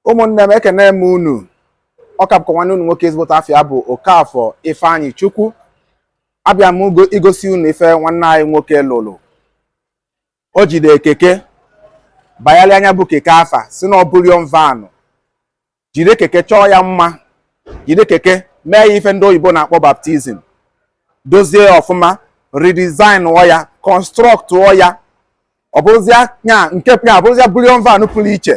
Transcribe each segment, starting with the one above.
ụmụnne m ekene m unu ọ ka bụkwa nwanne unu nwoke ezigbote afa ya bụ Okafọ Ifeanyịchukwu abịa m igosi unu ife nwanne anyị nwoke lụrụ o jide keke bayalịa nya bụ keke afa sị na ọ bullion van jide keke chọọ ya mma jide keke mee ya ife ndị oyibo na-akpọ baptism dozie ya ọfụma redesignụọ ya constructụọ ya ọ bụrụzịa nya nke ya bụrụzịa bullion van pụrụ iche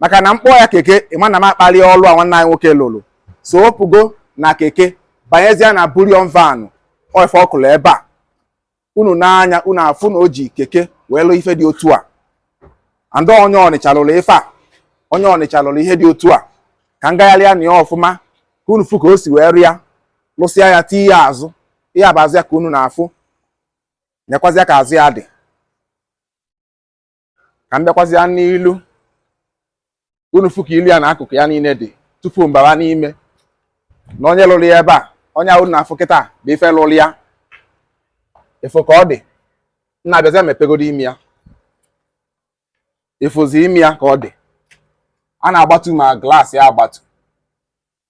maka na m kpọọ ya keke ị ma na m akpalị ọlụ a nwanne anyị nwoke lụrụ so ọ pụgo na keke banyezia na bullion van ọ ife ọ kụlụ ebe a unu nee anya unu afụ na o ji keke wee lụ ife dị otu a and ọ onye Ọnịcha lụrụ ife a onye Ọnịcha lụrụ ihe dị otu a ka m gagharịa na ya ọfụma ka unu fụ ka o si wee rụ ya lụsịa ya tinye ya azụ ihe a bụ azụ ya ka unu na-afụ nekwazịa ka azụ ya dị ka m bịakwazịa n'ilu unu fụ ka ilu ya na akụkụ ya niile dị tupu m bawa n'ime nee onye lụrụ ya ebe a onye a unu na-afụ kịta bụ ife lụrụ ya ị fụ ka ọ dị nna bịazịa mepegodu ime ya ị fụzi ime ya ka ọ dị a na-agbatu ma glass ya agbatu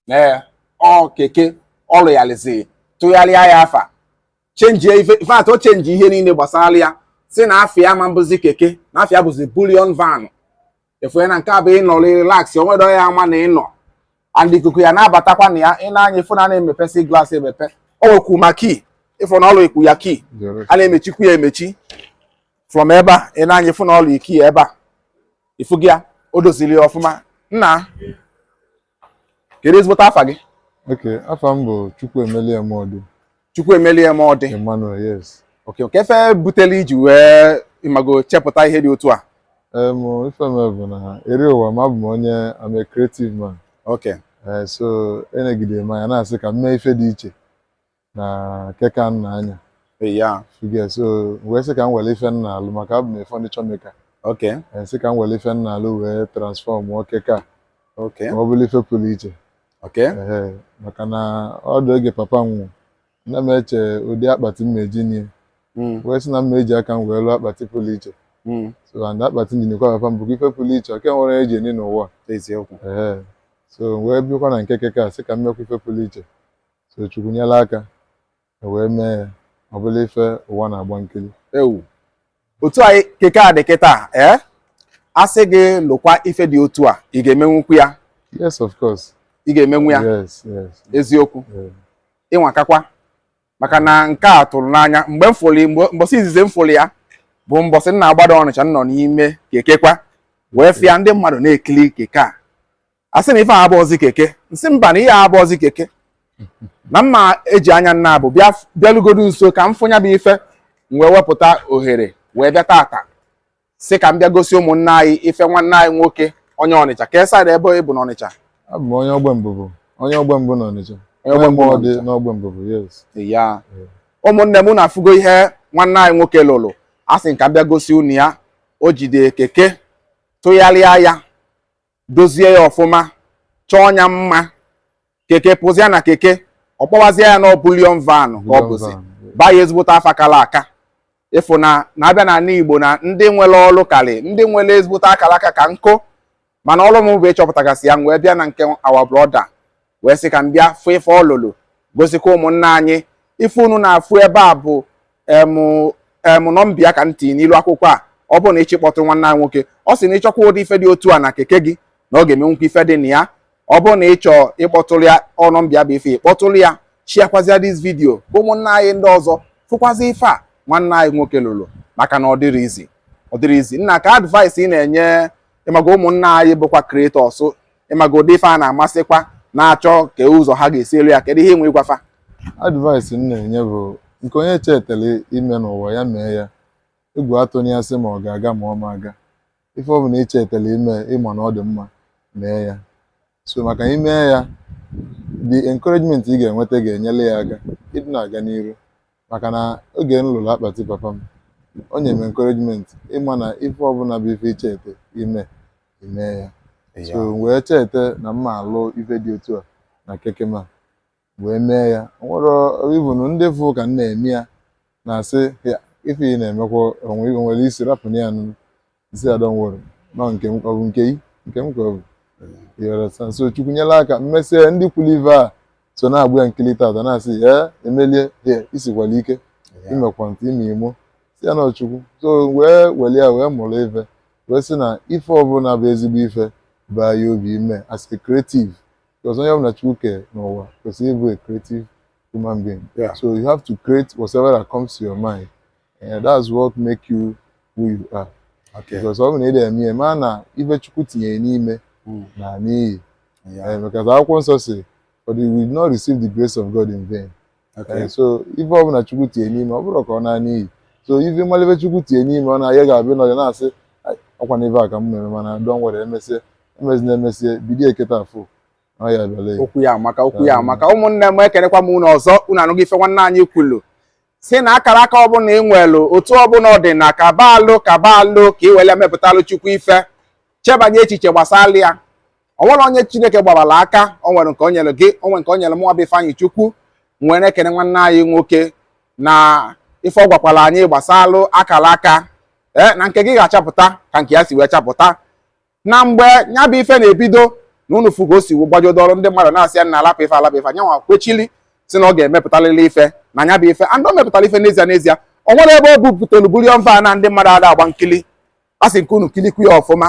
na ọ keke ọ lụgharịzi tụgharịa ya afa chenjie ife ife atọ chenji ihe niile gbasara ya sị na afa ya ma-abụzi keke na afa ya bụzi bullion van ị fụ na nke a bụ ị nọ relax onwedo ya a ma na ị nọ and ikuku ya na-abatakwa na ya i nee anya ị fụ na a na-emepesi glass emepe o nwekwu ma key ị fụ na ọ lụnyekwu ya key a na-emechikwu ya emechi from ebe a i nee anya ị fụ na ọ lụ key ya ebe a ị fụgo ya o doziri ya ọfụma nna kedu ezigbote afa gị ok afa m bụ Chukwuemelie Emodi Chukwuemelie Emodi Emmanuel yes ok kee ife butele i ji wee ị mago chepụta ihe dị otu a em ife mee bụ na eri ụwa m abụ m onye I'm a creative man ok eh, so enegide m anya na-asị ka m mee ife dị iche na keke a m na-anya yeah ị fụgo ya, so wee sị ka m were ife m na-alụ maka abụ m furniture maker ok Eh, sị ka m were ife m na-alụ wee transformụọ keke a ok ma ọ bụrụ ife pụrụ iche ok Ehe, maka na ọ dị oge papa m nwụrụ ana m eche ụdị akpati m ga-eji nie Mm, wee sị na m eji aka m wee lụọ akpati pụrụ iche mm, so and akpati m ji niekwa papa m bụkwa ife pụrụ iche ọ ka nwerọ e ji eni n'ụwa eziokwu Ehe. so wee bịakwa na nke keke a sị ka m mekwa ife pụrụ iche so chukwu nyere aka e wee mee ya ọ bụrụ ife ụwa na-agba nkiri ewu otu a keke a dị kịta ee a sị gị lụkwa ife dị otu a ị ga-emenwukwu ya yes of course ị ga-emenwu ya yes yes eziokwu yeah. ị nwakakwa maka na nke a tụrụ m n'anya mgbe m fụrụ mgbe mbọsị izizi m fụrụ ya bụ mbọsị m na-agbada ọnịcha m nọ n'ime keke kwa wee fụ ya ndị mmadụ na-ekili keke a asị m na ife a abụọzi keke m sị mba na ihe a abụọzi keke na m ma-eji anya m naabọ bịa bịalugodu nso ka m fụ nya bụ ife m wee wepụta ohere wee bịa tata sị ka m bịa gosi ụmụnne anyị ife nwanne anyị nwoke onye ọnịcha kee side ebe ị bụ n'ọnịcha abụ m onye ogbembubu onye ogbembubu n'ọnịcha onye ogbembubu n'ogbembubu yes ya ụmụnne m unu afụgo ihe nwanne anyị nwoke lụrụ asị m ka m bịa gosi unu ya o jide keke tụgharịa ya dozie ya ọfụma chọọ ya mma keke pụzia na keke ọ kpọwazie ya na bullion van ka ọ bụzi baa ya ezigbote afa akala aka ị fụ na a bịa na ala Igbo na ndị nwere ọrụ karị ndị nwere ezigbote akara aka ka nkụ mana ọrụ m bụ ịchọpụtagasị ya wee bịa na nke our brother wee sị ka m bịa fụ ife ọ lụlụ gosikwa ụmụnna anyị ife unu na-afụ ebe a bụ emụ nọmba ya ka m tinyelu akwụkwọ a ọ bụrụ na ị chọ kpọtụrụ nwanne anyị nwoke ọ sị na ị chọkwa ụdị ife dị otu a na keke gị na ọ ga-emenwukwa ife dị na ya ọ bụrụ na ị chọọ ịkpọtụrụ ya nọmba ya bụ ife ị kpọtụrụ ya shiakwazịa this video ka ụmụnna anyị ndị ọzọ fụkwazi ife a nwanne anyị nwoke lụrụ maka na ọ dịrọ easy ọ dịrọ easy nna kee advice ị na-enye ịmaga ụmụnna anyị bụkwa creators ịmaga ụdị ife a na-amasịkwa na-achọ ka ụzọ ha ga-esi alụ ya kedu ihe ị nwe ịgwa fa advice m na-enye bụ nke onye chetara ime n'ụwa ya mee ya egwu atụna ya sị ma ọ ga-aga ma ọ ma aga ife ọ bụla ị chetara ime ị ma na ọ dị mma mee ya so maka i mee ya the encouragement ị ga-enweta ga-enyere ya aka ịdị na-aga n'iru maka na oge m lụrụ akpati papa m o nyere m encouragement ịma na ife ọbụla bụ ife i chete ime i mee ya so m wee chete na m ma-alụ ife dị otu a na keke m a m wee mee ya O nwere even ndị fụ ka m na-eme ya na-asị "Ya, ife ị na-emekwa o nwe o nwerọ isi rapụnụ ya nụ I said, Don't worry. Nọ nke m ọ bụ nke i nke m ka ọ bụ You understand? so chukwu nyela aka m mesịa ndị kwuru ive a so na-agba ya nkiri tata na-asị ee emelie hei i sikwala ike Yeah. i mekwa ntị ime imo si ya na chukwu so wee weli ya wee mụrụ ife wee sị na ife ọbụla bụ ezigbo ife baa ya obi i mee as a creative because onye ọbụla chukwu kere n'ụwa kwesịrị ịbụ a creative human being Yeah. so you have to create whatever that comes to your mind Eh, that's what make you who you are okay because ọ bụ na ị na-eme ya ma na ife chukwu tinyere n'ime hmm. na n'iyi eh, because akwụkwọ nsọ sị for we will not receive the grace of God in vain okay eh, so ife ọ bụla chukwu tinyere n'ime ọ bụrọ ka ọ naa n'iyi so ife mmalebe chukwu tinye n'ime ọ na-aya ga-abịa n'ọya na-asị ọkwa na ife a ka m na-eme mana don't worry emesịa emezi na emesie bido eketa afụ okwu ya amaka okwu ya amaka ụmụnne m ekenekwa m unu ọzọ unu anụgo ife nwanne anyị kwulu sị na akara aka ọbụla ị nwelụ otu ọbụla ọ dị na kaba alụ kaba alụ ka ị were mepụtalụ chukwu ife chebanye echiche gbasara ya o nwerọ onye chineke gbabara aka o nwere nke o nyere gị o nwere nke o nyere mụnwa bụ Ifeanyịchukwu nwere ekene nwanne anyị nwoke na ife ọ gwakwara anyị gbasalụ akara aka ee na nke gị ga-achapụta ka nke ya si wee chapụta na mgbe ya bụ ife na-ebido na unu fụgo o si wee gbajodo ọrụ ndị mmadụ na-asị ya nna lapụ ife a lapụ ife a nyanwa kwechili sị na ọ ga-emepụtalịlị ife na nya bụ ife and o mepụtara ife n'ezie n'ezie o nwere ebe o bupụtara bullion van na ndị mmadụ ada agba nkili a sị m ka unu kilikwu ya ọfụma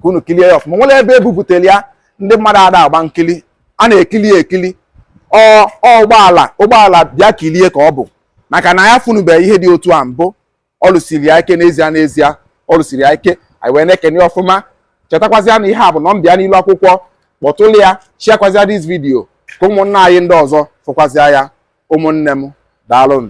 ka unu kilie ya ọfụma nwere ebe e bupụtara ya ndị mmadụ ada agba nkili a na-ekili ya ekili ọ ụgbọala ụgbọala bịa kilie ka ọ bụ maka na ya fụnụbeghị ihe dị otu a mbụ ọ lụsiri ya ike n'ezie n'ezie ọ lụsiri ya ike anyị wee na-ekene ya ọfụma chetakwazịa na ihe a bụ nọmba ya n'ilu akwụkwọ kpọtụlụ ya sharekwazịa this video ka ụmụnna anyị ndị ọzọ fụkwazịa ya ụmụnne m daalụnụ